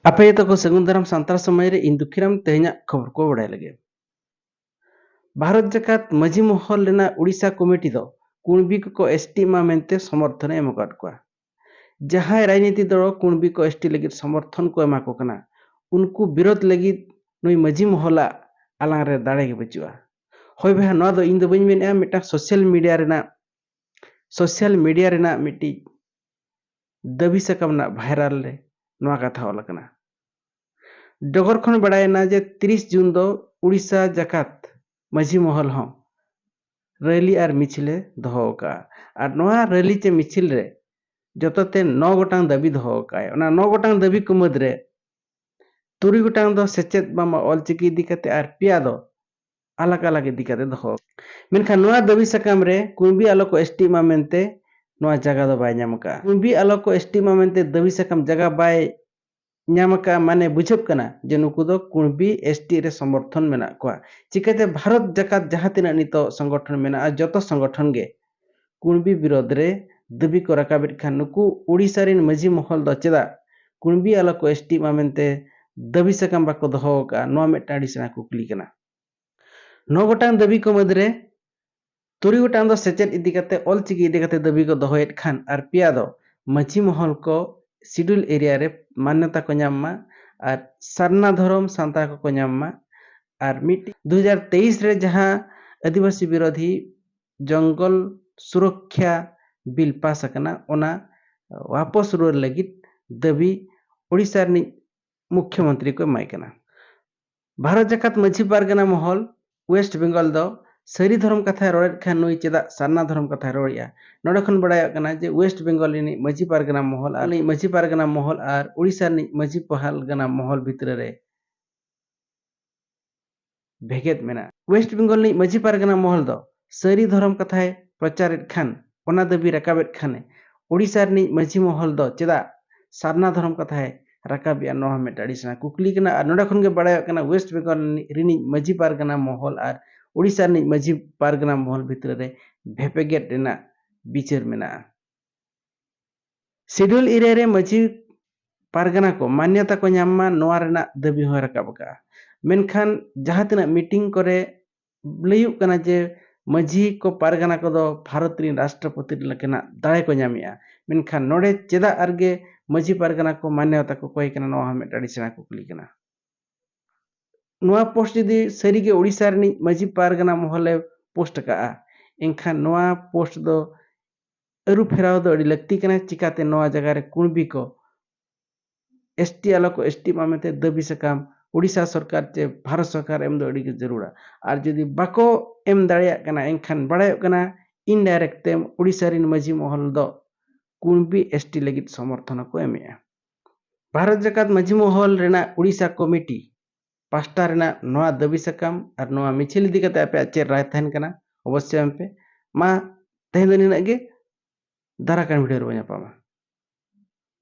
ᱟᱯᱮ ᱡᱚᱛᱚ ᱠᱚ ᱥᱟᱹᱜᱩᱱ ᱫᱟᱨᱟᱢ ᱥᱟᱱᱛᱟᱲ ᱥᱚᱢᱟᱡᱽ ᱨᱮ ᱤᱧ ᱫᱩᱠᱷᱤᱨᱟᱢ ᱛᱮᱦᱮᱧᱟᱜ ᱠᱷᱚᱵᱚᱨ ᱠᱚ ᱵᱟᱲᱟᱭ ᱞᱟᱹᱜᱤᱫ ᱵᱷᱟᱨᱚᱛ ᱡᱟᱠᱟᱛ ᱢᱟᱹᱡᱷᱤ ᱢᱚᱦᱚᱞ ᱨᱮᱱᱟᱜ ᱩᱲᱤᱥᱥᱟ ᱠᱚᱢᱤᱴᱤ ᱫᱚ ᱠᱩᱬᱵᱤ ᱠᱚᱠᱚ ᱮᱥᱴᱤ ᱮᱢᱟ ᱢᱮᱱᱛᱮ ᱥᱚᱢᱚᱨᱛᱷᱚᱱ ᱮᱢ ᱟᱠᱟᱫ ᱠᱚᱣᱟ ᱡᱟᱦᱟᱸᱭ ᱨᱟᱡᱽᱱᱤᱛᱤ ᱫᱚᱞ ᱠᱩᱬᱵᱤ ᱠᱚ ᱮᱥᱴᱤ ᱞᱟᱹᱜᱤᱫ ᱥᱚᱢᱚᱨᱛᱷᱚᱱ ᱠᱚ ᱮᱢᱟ ᱠᱚ ᱠᱟᱱᱟ ᱩᱱᱠᱩ ᱵᱤᱨᱳᱫ ᱞᱟᱹᱜᱤᱫ ᱱᱩᱭ ᱢᱟᱹᱡᱷᱤ ᱢᱚᱦᱚᱞᱟᱜ ᱟᱞᱟᱝ ᱨᱮ ᱫᱟᱲᱮ ᱜᱮ ᱵᱟᱹᱪᱩᱜᱼᱟ ᱦᱳᱭ ᱵᱚᱭᱦᱟ ᱱᱚᱣᱟ ᱫᱚ ᱤᱧ ᱫᱚ ᱵᱟᱹᱧ ᱢᱮᱱᱮᱜᱼᱟ ᱢᱤᱫᱴᱟᱝ ᱥᱳᱥᱟᱞ ᱢᱤᱰᱤᱭᱟ ᱨᱮᱱᱟᱜ ᱥᱳᱥᱟᱞ ᱢᱤᱰᱤᱭᱟ ᱨᱮᱱᱟᱜ ᱢᱤᱫᱴᱤᱡ ᱫᱟᱹᱵᱤ ᱥᱟᱠᱟᱢ ᱨᱮᱱᱟᱜ ᱵᱷᱟᱭᱨᱟᱞ ᱨᱮ ᱱᱚᱣᱟ ᱠᱟᱛᱷᱟ ᱚᱞ ᱟᱠᱟᱱᱟ ᱰᱚᱜᱚᱨ ᱠᱷᱚᱱ ᱵᱟᱲᱟᱭᱮᱱᱟ ᱡᱮ ᱛᱤᱨᱤᱥ ᱡᱩᱱ ᱫᱚ ᱩᱲᱤᱥᱥᱟ ᱡᱟᱠᱟᱛ ᱢᱟᱹᱡᱷᱤ ᱢᱚᱦᱚᱞ ᱦᱚᱸ ᱨᱮᱞᱤ ᱟᱨ ᱢᱤᱪᱷᱤᱞᱮ ᱫᱚᱦᱚ ᱟᱠᱟᱫᱼᱟ ᱟᱨ ᱱᱚᱣᱟ ᱨᱮᱞᱤ ᱪᱮ ᱢᱤᱪᱷᱤᱞ ᱨᱮ ᱡᱚᱛᱚᱛᱮ ᱱᱚ ᱜᱚᱴᱟᱝ ᱫᱟᱹᱵᱤ ᱫᱚᱦᱚ ᱟᱠᱟᱫᱼᱟᱭ ᱚᱱᱟ ᱱᱚ ᱜᱚᱴᱟᱝ ᱫᱟᱹᱵᱤ ᱠᱚ ᱢᱩᱫᱽ ᱨᱮ ᱛᱩᱨᱩᱭ ᱜᱚᱴᱟᱝ ᱫᱚ ᱥᱮᱪᱮᱫ ᱵᱟᱝᱢᱟ ᱚᱞᱪᱤᱠᱤ ᱤᱫᱤ ᱠᱟᱛᱮ ᱟᱨ ᱯᱮᱭᱟ ᱫᱚ ᱟᱞᱟᱜ ᱟᱞᱟᱜ ᱤᱫᱤ ᱠᱟᱛᱮ ᱫᱚᱦᱚ ᱢᱮᱱᱠᱷᱟᱱ ᱱᱚᱣᱟ ᱫᱟᱹᱵᱤ ᱥᱟᱠᱟᱢ ᱨᱮ ᱠᱩᱬᱵᱤ ᱟᱞᱚ ᱠᱚ ᱮᱥᱴᱤᱜ ᱢᱟ ᱢᱮᱱᱛᱮ ᱱᱚᱣᱟ ᱡᱟᱜᱟ ᱫᱚ ᱵᱟᱭ ᱧᱟᱢ ᱟᱠᱟᱫᱼᱟ ᱠᱩᱬᱵᱤ ᱟᱞᱚ ᱠᱚ ᱮᱥᱴᱤᱜ ᱢᱟ ᱢᱮᱱᱛᱮ ᱫᱟᱹᱵᱤ ᱥᱟᱠᱟᱢ ᱡᱟᱜᱟ ᱵᱟᱭ ᱧᱟᱢ ᱟᱠᱟᱫᱼᱟ ᱢᱟᱱᱮ ᱵᱩᱡᱷᱟᱹᱜ ᱠᱟᱱᱟ ᱡᱮ ᱱᱩᱠᱩ ᱫᱚ ᱠᱩᱬᱵᱤ ᱮᱥᱴᱤᱜ ᱨᱮ ᱥᱚᱢᱚᱨᱛᱷᱚᱱ ᱢᱮᱱᱟᱜ ᱠᱚᱣᱟ ᱪᱤᱠᱟᱹᱛᱮ ᱵᱷᱟᱨᱚᱛ ᱡᱟᱠᱟᱛ ᱡᱟᱦᱟᱸ ᱛᱤᱱᱟᱹᱜ ᱱᱤᱛᱚᱜ ᱥᱚᱝᱜᱚᱴᱷᱚᱱ ᱢᱮᱱᱟᱜᱼᱟ ᱡᱚᱛᱚ ᱥᱚᱝᱜᱚᱴᱷᱚᱱ ᱜᱮ ᱠᱩᱬᱵᱤ ᱵᱤᱨᱚᱫᱷ ᱨᱮ ᱫᱟᱹᱵᱤ ᱠᱚ ᱨᱟᱠᱟᱵᱮᱫ ᱠᱷᱟᱱ ᱱᱩᱠᱩ ᱳᱰᱤᱥᱟ ᱨᱤᱱ ᱢᱟᱹᱡᱷᱤ ᱢᱚᱦᱚᱞ ᱫᱚ ᱪᱮᱫᱟᱜ ᱠᱩᱬᱵᱤ ᱟᱞᱚ ᱠᱚ ᱮᱥᱴᱤᱜ ᱢᱟ ᱢᱮᱱᱛᱮ ᱫᱟᱹᱵᱤ ᱥᱟᱠᱟᱢ ᱵᱟᱠᱚ ᱫᱚᱦᱚ ᱟᱠᱟᱫᱼᱟ ᱱᱚᱣᱟ ᱢᱤᱫᱴᱟᱝ ᱟᱹᱰᱤ ᱥᱮᱬᱟ ᱠᱩᱠᱞᱤ ᱠᱟᱱᱟ᱾ ᱱᱚ ᱜᱚᱴᱟᱝ ᱫᱟᱹᱵᱤ ᱠᱚ ᱢᱟᱹᱫᱽ ᱨᱮ ᱛᱩᱨᱩᱭ ᱜᱚᱴᱟᱝ ᱫᱚ ᱥᱮᱪᱮᱫ ᱤᱫᱤ ᱠᱟᱛᱮ ᱚᱞ ᱪᱤᱠᱤ ᱤᱫᱤ ᱠᱟᱛᱮ ᱫᱟᱹᱵᱤ ᱠᱚ ᱫᱚᱦᱚᱭᱮᱫ ᱠᱷᱟᱱ ᱟᱨ ᱯᱮᱭᱟ ᱫᱚ ᱢᱟᱹᱡᱷᱤ ᱢᱚᱦᱚᱞ ᱠᱚ ᱥᱤᱰᱩᱞ ᱮᱨᱤᱭᱟ ᱨᱮ ᱢᱟᱱᱱᱚᱛᱟ ᱠᱚ ᱧᱟᱢ ᱢᱟ ᱟᱨ ᱥᱟᱨᱱᱟ ᱫᱷᱚᱨᱚᱢ ᱥᱟᱱᱛᱟᱲ ᱠᱚᱠᱚ ᱧᱟᱢ ᱢᱟ ᱟᱨ ᱢᱤᱫᱴᱤᱡ ᱫᱩ ᱦᱟᱡᱟᱨ ᱛᱮᱭᱤᱥ ᱨᱮ ᱡᱟᱦᱟᱸ ᱟᱹᱫᱤᱵᱟᱹᱥᱤ ᱵᱤᱨᱚᱫᱷᱤ ᱡᱚᱝᱜᱚᱞ ᱥᱩᱨᱚᱠᱠᱷᱟ ᱵᱤᱞ ᱯᱟᱥ ᱟᱠᱟᱱᱟ ᱚᱱᱟ ᱣᱟᱯᱚᱥ ᱨᱩᱣᱟᱹᱲ ᱞᱟᱹᱜᱤᱫ ᱫᱟᱹᱵᱤ ᱳᱰᱤᱥᱟ ᱨᱤᱱᱤᱡ ᱢᱩᱠᱷᱭᱚ ᱢᱚᱱᱛᱨᱤ ᱠᱚ ᱮᱢᱟᱭ ᱠᱟᱱᱟ᱾ ᱵᱷᱟᱨᱚᱛ ᱡᱟᱠᱟᱛ ᱢᱟᱹᱡᱷᱤ ᱯᱟᱨᱜᱟᱱᱟ ᱢᱚᱦᱚᱞ, ᱣᱮᱥᱴ ᱵᱮᱝᱜᱚᱞ ᱫᱚ ᱥᱟᱹᱨᱤ ᱫᱷᱚᱨᱚᱢ ᱠᱟᱛᱷᱟᱭ ᱨᱚᱲᱮᱫ ᱠᱷᱟᱱ ᱱᱩᱭ ᱪᱮᱫᱟᱜ ᱥᱟᱨᱱᱟ ᱫᱷᱚᱨᱚᱢ ᱠᱟᱛᱷᱟᱭ ᱨᱚᱲᱮᱫᱼᱟ᱾ ᱱᱚᱸᱰᱮ ᱠᱷᱚᱱ ᱵᱟᱰᱟᱭᱚᱜ ᱠᱟᱱᱟ ᱡᱮ ᱣᱮᱥᱴ ᱵᱮᱝᱜᱚᱞ ᱨᱤᱱᱤᱡ ᱢᱟᱹᱡᱷᱤ ᱯᱟᱨᱜᱟᱱᱟ ᱢᱚᱦᱚᱞ ᱟᱨ ᱨᱤᱱᱤᱡ ᱢᱟᱹᱡᱷᱤ ᱯᱟᱨᱜᱟᱱᱟ ᱢᱚᱦᱚᱞ ᱟᱨ ᱳᱰᱤᱥᱟ ᱨᱤᱱᱤᱡ ᱢᱟᱹᱡᱷᱤ ᱯᱟᱨᱜᱟᱱᱟ ᱢᱚᱦᱚᱞ ᱵᱷᱤᱛᱨᱟᱹ ᱨᱮ ᱵᱷᱮᱜᱮᱫ ᱢᱮᱱᱟᱜᱼᱟ᱾ ᱣᱮᱥᱴ ᱵᱮᱝᱜᱚᱞ ᱨᱤᱱᱤᱡ ᱢᱟᱹᱡᱷᱤ ᱯᱟᱨᱜᱟᱱᱟ ᱢᱚᱦᱚᱞ ᱫᱚ ᱥᱟᱹᱨᱤ ᱫᱷᱚᱨᱚᱢ ᱠᱟᱛᱷᱟᱭ ᱯᱨᱚᱪᱟᱨᱮᱫ ᱠᱷᱟᱱ ᱚᱱᱟ ᱫᱟᱹᱵᱤ ᱨᱟᱠᱟᱵᱮᱫ ᱠᱷᱟᱱ ᱮ ᱳᱰᱤᱥᱟ ᱨᱤᱱᱤᱡ ᱢᱟᱹᱡᱷᱤ ᱢᱚᱦᱚᱞ ᱫᱚ ᱪᱮᱫᱟᱜ ᱥᱟᱨᱱᱟ ᱫᱷᱚᱨᱚᱢ ᱠᱟᱛᱷᱟᱭ ᱨᱟᱠᱟᱵᱮᱫᱼᱟ ᱱᱚᱣᱟ ᱦᱚᱸ ᱢᱤᱫᱴᱟᱝ ᱟᱹᱰᱤ ᱥᱮᱬᱟ ᱠᱩᱠᱞᱤ ᱠᱟᱱᱟ ᱟᱨ ᱱᱚᱸᱰᱮ ᱠᱷᱚᱱ ᱜᱮ ᱵᱟᱲᱟᱭᱚᱜ ᱠᱟᱱᱟ ᱣᱮᱥᱴ ᱵᱮᱝᱜᱚᱞ ᱨᱤᱱᱤᱡ ᱢᱟᱹᱡᱷᱤ ᱯᱟᱨᱜᱟᱱᱟ ᱢᱚᱦᱚᱞ ᱟᱨ ᱳᱰᱤᱥᱟ ᱨᱤᱱᱤᱡ ᱢᱟᱹᱡᱷᱤ ᱯᱟᱨᱜᱟᱱᱟ ᱢᱚᱦᱚᱞ ᱵᱷᱤᱛᱨᱟᱹ ᱨᱮ ᱵᱷᱮᱯᱮᱜᱮᱫ ᱨᱮᱱᱟᱜ ᱵᱤᱪᱟᱹᱨ ᱢᱮᱱᱟᱜᱼᱟ᱾ ᱥᱤᱰᱩᱞ ᱤᱨᱟᱹ ᱨᱮ ᱢᱟᱹᱡᱷᱤ ᱯᱟᱨᱜᱟᱱᱟ ᱠᱚ ᱢᱟᱱᱭᱚᱛᱟ ᱠᱚ ᱧᱟᱢ ᱢᱟ ᱱᱚᱣᱟ ᱨᱮᱱᱟᱜ ᱫᱟᱹᱵᱤ ᱦᱚᱸᱭ ᱨᱟᱠᱟᱵ ᱟᱠᱟᱫᱼᱟ᱾ ᱢᱮᱱᱠᱷᱟᱱ ᱡᱟᱦᱟᱸ ᱛᱤᱱᱟᱹᱜ ᱢᱤᱴᱤᱝ ᱠᱚᱨᱮ ᱞᱟᱹᱭᱩᱜ ᱠᱟᱱᱟ ᱡᱮ ᱢᱟᱹᱡᱷᱤ ᱠᱚ ᱯᱟᱨᱜᱟᱱᱟ ᱠᱚᱫᱚ ᱵᱷᱟᱨᱚᱛ ᱨᱤᱱ ᱨᱟᱥᱴᱨᱚᱯᱚᱛᱤ ᱞᱮᱠᱟᱱᱟᱜ ᱫᱟᱲᱮ ᱠᱚ ᱧᱟᱢᱮᱫᱼᱟ᱾ ᱢᱮᱱᱠᱷᱟᱱ ᱱᱚᱰᱮ ᱪᱮᱫᱟᱜ ᱟᱨᱜᱮ ᱢᱟᱹᱡᱷᱤ ᱯᱟᱨᱜᱟᱱᱟ ᱠᱚ ᱢᱟᱱᱭᱚᱛᱟ ᱠᱚ ᱠᱚᱭ ᱠᱟᱱᱟ ᱱᱚᱣᱟ ᱦᱚᱸ ᱢᱤᱫᱴᱟᱝ ᱟᱹᱰᱤ ᱥᱮᱬᱟ ᱠᱩᱠᱞᱤ ᱠᱟᱱᱟ᱾ ᱱᱚᱣᱟ ᱯᱳᱥᱴ ᱡᱩᱫᱤ ᱥᱟᱹᱨᱤ ᱜᱮ ᱳᱰᱤᱥᱟ ᱨᱤᱱᱤᱡ ᱢᱟᱹᱡᱷᱤ ᱯᱟᱨᱜᱟᱱᱟ ᱢᱚᱦᱚᱞ ᱮ ᱯᱳᱥᱴ ᱟᱠᱟᱫᱼᱟ ᱮᱱᱠᱷᱟᱱ ᱱᱚᱣᱟ ᱯᱳᱥᱴ ᱫᱚ ᱟᱹᱨᱩ ᱯᱷᱮᱨᱟᱣ ᱫᱚ ᱟᱹᱰᱤ ᱞᱟᱹᱠᱛᱤ ᱠᱟᱱᱟ ᱪᱤᱠᱟᱛᱮ ᱱᱚᱣᱟ ᱡᱟᱭᱜᱟ ᱨᱮ ᱠᱩᱬᱵᱤ ᱠᱚ ᱮᱥ ᱴᱤ ᱟᱞᱚ ᱠᱚ ᱮᱥ ᱴᱤᱜ ᱢᱟ ᱢᱮᱱᱛᱮ ᱫᱟᱹᱵᱤ ᱥᱟᱠᱟᱢ ᱩᱲᱤᱥᱥᱟ ᱥᱚᱨᱠᱟᱨ ᱪᱮ ᱵᱷᱟᱨᱚᱛ ᱥᱚᱨᱠᱟᱨ ᱮᱢ ᱫᱚ ᱟᱹᱰᱤ ᱜᱮ ᱡᱟᱹᱨᱩᱲᱟ ᱟᱨ ᱡᱩᱫᱤ ᱵᱟᱠᱚ ᱮᱢ ᱫᱟᱲᱮᱭᱟᱜ ᱠᱟᱱᱟ ᱮᱱᱠᱷᱟᱱ ᱵᱟᱲᱟᱭᱚᱜ ᱠᱟᱱᱟ ᱤᱱᱰᱟᱭᱨᱮᱠᱴ ᱛᱮ ᱩᱲᱤᱥᱥᱟ ᱨᱮᱱ ᱢᱟᱹᱡᱷᱤ ᱢᱚᱦᱚᱞ ᱫᱚ ᱠᱩᱬᱵᱤ ᱮᱥ ᱴᱤ ᱞᱟᱹᱜᱤᱫ ᱥᱚᱢᱚᱨᱛᱷᱚᱱ ᱦᱚᱸᱠᱚ ᱮᱢᱮᱜᱼᱟ ᱵᱷᱟᱨᱚᱛ ᱡᱟᱠᱟᱛ ᱢᱟᱹᱡᱷᱤ ᱢᱚᱦᱚᱞ ᱨᱮᱱᱟᱜ ᱩᱲᱤᱥᱥᱟ ᱠᱚᱢᱤᱴᱤ ᱯᱟᱥᱴᱟ ᱨᱮᱱᱟᱜ ᱱᱚᱣᱟ ᱫᱟᱹᱵᱤ ᱥᱟᱠᱟᱢ ᱟᱨ ᱱᱚᱣᱟ ᱢᱤᱪᱷᱤᱞ ᱤᱫᱤ ᱠᱟᱛᱮ ᱟᱯᱮᱭᱟᱜ ᱪᱮᱫ ᱨᱟᱭ ᱛᱟᱦᱮᱱ ᱠᱟᱱᱟ ᱚᱵᱚᱥᱥᱳᱭ ᱮᱢ ᱯᱮ ᱢᱟ ᱛᱮᱦᱮᱧ ᱫᱚ ᱱᱤᱱᱟᱹᱜ ᱜᱮ ᱫᱟᱨᱟᱭ ᱠᱟᱱ ᱵᱷᱤᱰᱤᱭᱳ ᱨᱮᱵᱚᱱ ᱧᱟᱯᱟᱢᱟ